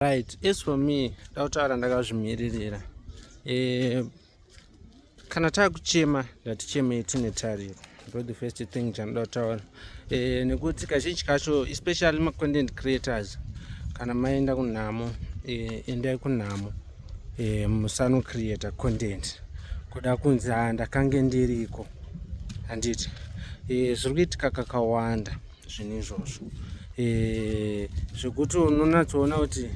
right as for me ndakutaura ndakazvimiririra eh, kana takuchema ndatichemei tine tariro ndo the first thing chanoda kutaura eh, nekuti kazhinji kacho especially macontent creators kana maenda kunhamo eh, endai kunhamo eh, musano creator content kuda kunzi ha ndakange ndiriko handiti eh, zviri kuitika kakawanda zvinhu izvozvo eh, zvekuti unonatsoona kuti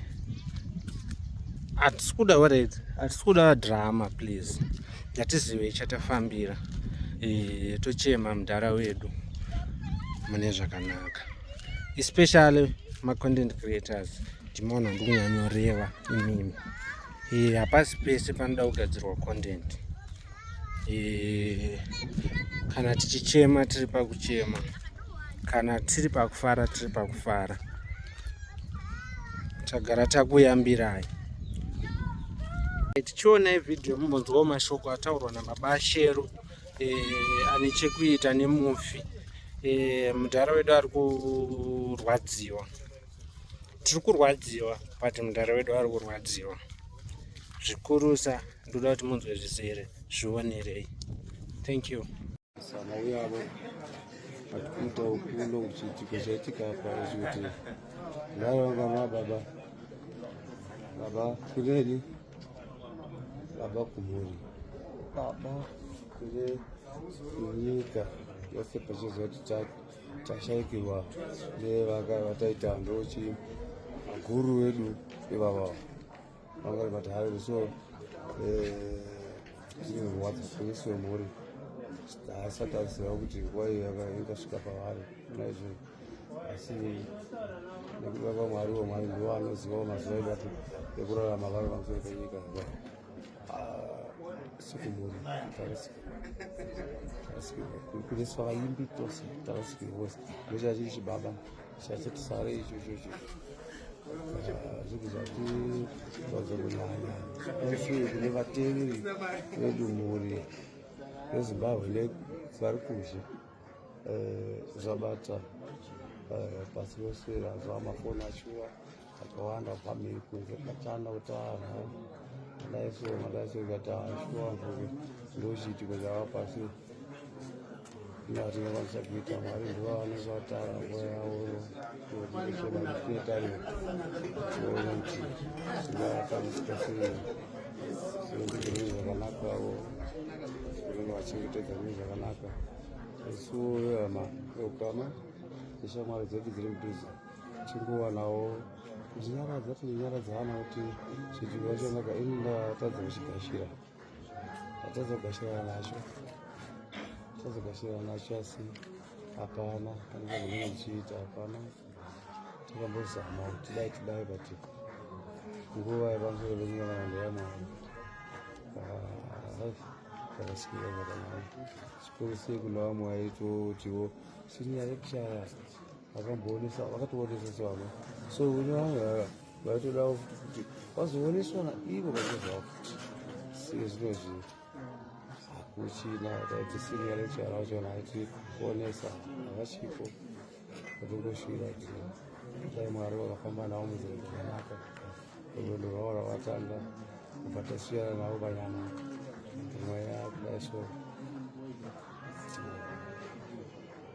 hatisi kuda wared hatisi kuda drama please ngatizive chatafambira eh, tochema mudhara wedu mune zvakanaka especially macontent creators ndimoona ndikunyanyoreva imimi eh, hapasi pese panoda kugadzirwa content e, kana tichichema tiri pakuchema kana tiri pakufara tiri pakufara tagara takuyambirai tichionai vhidhiyo mumbonzwawo mashoko ataurwa nababa shero e, ane chekuita nemufi e, mudhara wedu ari kurwadziwa tiri kurwadziwa but mudhara wedu ari kurwadziwa zvikurusa ndoda kuti munzwe zvizere zvionerei thank you sana uyavo vati kumutawo kuno kuchiitiko chaitika apa zvikuti vaiva vana baba baba kuneni baba kumhuri baba kune nyika yose pachiziva kuti tashaikirwa nevataita ndochi guru wedu ivavavo vangori vati hayo so zvinorwadza eh, kuisi wemhuri haasati aziva kuti nguva iyo yakasvika pavari naizvo asi nekuti vava mwari wamwari ndivo vanozivawo mazuva edu ati ekurarama varo pamusoro penyika aa ah, sikumhuri tarasikirwa kuneswa vaimbi tose tarasikirwa vose ndochachiri chibaba Chachitisare icho ichocho zvekuzvatitadza kunyanya isu kune vateveri vedu mhuri yezimbabwe le vari kuzhe zvabata pasi rose razvamafoni achiwa akawanda family kunze kachana kuti anhu madaiso madaiso ikati ashuwa mvuke ndochiitiko zvava pasi ndazvinokwanisa kuita mwari ndivo vanenge vatara nguva yavo kuetarira kuona kuti zvingaakamisika sei zvinenge zvine zvakanaka avo vanenge vachengetedza zvine zvakanaka isu vehama veukama neshamwari dzedu dziri mudhuze chinguwanawo ndinyaradza tinonyaradza vana kuti zvidziva chanaka ini ndatadza kuchigashira ndatadza kugashirana nacho ndatadza kugashirana nacho asi hapana panezvakunenge ndichiita hapana takambozama kuti dai tidai but nguva yepamusoro penyika vanhu yamwari zvakasikira zvakanaka zvikuru sei kuna vamwe vaitotiwo sinyaya yekushaya vakamboonesa vakatoonesa sevamwe so vamwe vanga vaitodawo futi kuti vazooneswa naivo vachizvawo futi sike zvino zvinhu hakuchina taiti senior lecturer vacho naiti kuonesa havachiko vatongosvira kuti dai mwari vakafamba navo muzero zvakanaka rwendo rwavo rwavatanga kubva tasiyana navo panyama mweya kudai so